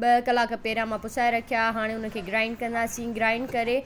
ٻه ڪلاڪ پيرا مان پسائي رکيا هاڻي ان کي گرائنڊ ڪنداسين گرائنڊ ڪري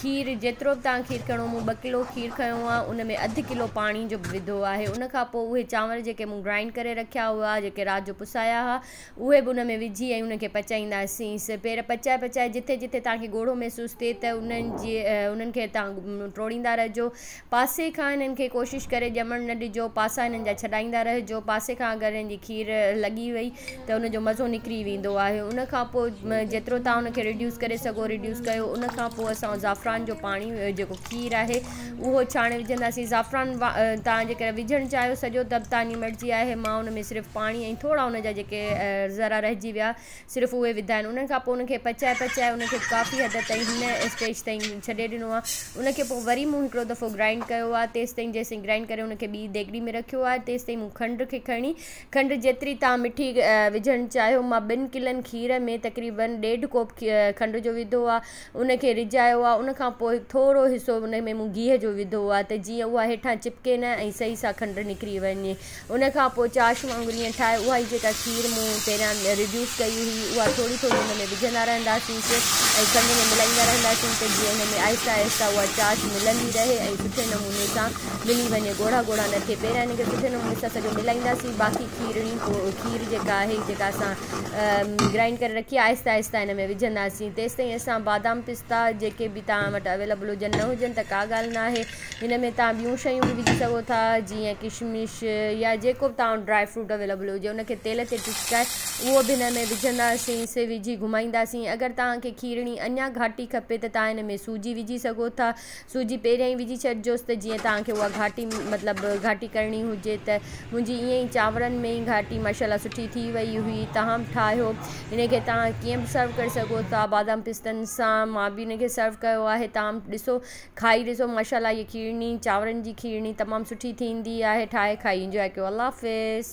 کير جيترو به تان کير کڻو مون ٻه ڪلو کير کنيو آهي ان ۾ اڌ ڪلو پاڻي جو به وڌو آهي ان کان پوء اهي چانور جيڪي مون گرائنڊ ڪري رکيا هئا جيڪي رات جو پسايا هئا اهي به ان ۾ وجهي ۽ ان کي پچائينداسينس پير پچائي پچائي جتي جتي تان کي ڳوڙهو محسوس ٿئي ته انهن جي انهن کي تان ٽوڙيندا رهجو پاسي کان هنن کي ڪوشش ڪري ڄمڻ نه ڏجو، پاسا هنن جا ڇڏائيندا رهجو، پاسي کان اگر هنن جي کير لڳي وئي ته ان جو مزو نڪري ويندو آهي، ان کان پوء جيترو توهان ان کي ريڊيوس ڪري سگهو ريڊيوس ڪيو، ان کان پوء اسان زعفران جو پاڻي جيڪو کير آهي اهو ڇاڻي وجهنداسين، زعفران توهان جيڪڏهن وجهڻ چاهيو سڄو ته به توهان جي مرضي آهي، مان ان ۾ صرف پاڻي ۽ ٿورا ان جا جيڪي ذرا رهجي ويا. صرف اهي وڌا آهن انهن کان پوء ان کي پچائي پچائي ان کي ڪافي حد تائين هن اسٽيج تائين ڇڏي ڏنو آهي ان کي پوء وري مون هڪڙو دفعو گرائنڊ ڪيو آهي تيستائين جيستائين گرائنڊ ڪري ان کي ٻي ديڳڙي ۾ رکيو آهي تيستائين مون کنڊ کي کڻي کنڊ جيتري تان مٺي وجهڻ چاهيو مان ٻن ڪلن کير ۾ تقريبن ڏيڍ ڪوپ کنڊ جو وڌو آهي ان کي رجايو آ ان کان پوء ٿورو حصو ان ۾ مون گيهه جو وڌو آ ته جيئن اها هيٺان چپڪي نه ۽ صحيح سان کنڊ نڪري وڃي ان کان پوء چاش وانگر ائين ٺاهي اهائي جيڪا کير مون پهريان ريڊيوس ڪئي هئي اها ٿوري ٿوري ان ۾ وجهندا رهنداسينس ۽ کنڊ ۾ ملائيندا رهنداسين ته جيئن ان ۾ آهستي آهستي اها چاش ملندي رهي ۽ سٺي نموني سان ملي وڃي ڳوڙها ڳوڙها نه ٿئي پهريان ان کي سٺي نموني سان سڄو ملائينداسين باقي کيرڻي کير جيڪا آهي جيڪا اسان گرائنڊ ڪري رکي آهستي آهستي ان ۾ وجهنداسين تيسي تائين اسان بادام پستا جيڪي به تان وٽ اويلبل هجن نه هجن ته ڪا ڳالهه نه آهي ان ۾ تان ٻيون شيون به وجهي سگهو ٿا جيئن ڪشمش يا جيڪو به تان ڊرائي فروٽ اويلبل هجي ان کي تيل تي ٽسڪائي اهو به ان ۾ وجهنداسين سي وجهي گهمائينداسين اگر تان کي کيرڻي اڃا گهاٽي کپي ته تان ان ۾ سوجي وجهي سگهو ٿا سوجي پهريان ئي وجهي ڇڏجوس ته جيئن توهان کي اها گهاٽي مطلب گهاٽي ڪرڻي هجي ته منهنجي ائين ئي چانورن ۾ ئي گهاٽي ماشاءالله سٺي ٿي وئي هئي توهان به ٺاهيو هن کي توهان ڪيئن به سرو ڪري سگهو ٿا بادام پستن سان مان به هن کي سرو ڪيو آهي توهان به ڏسو کائي ڏسو ماشاءالله هيء کيرڻي چانورن جي کيرڻي تمام سٺي ٿيندي آهي ٺاهي کائي انجوائي ڪيو الله حافظ.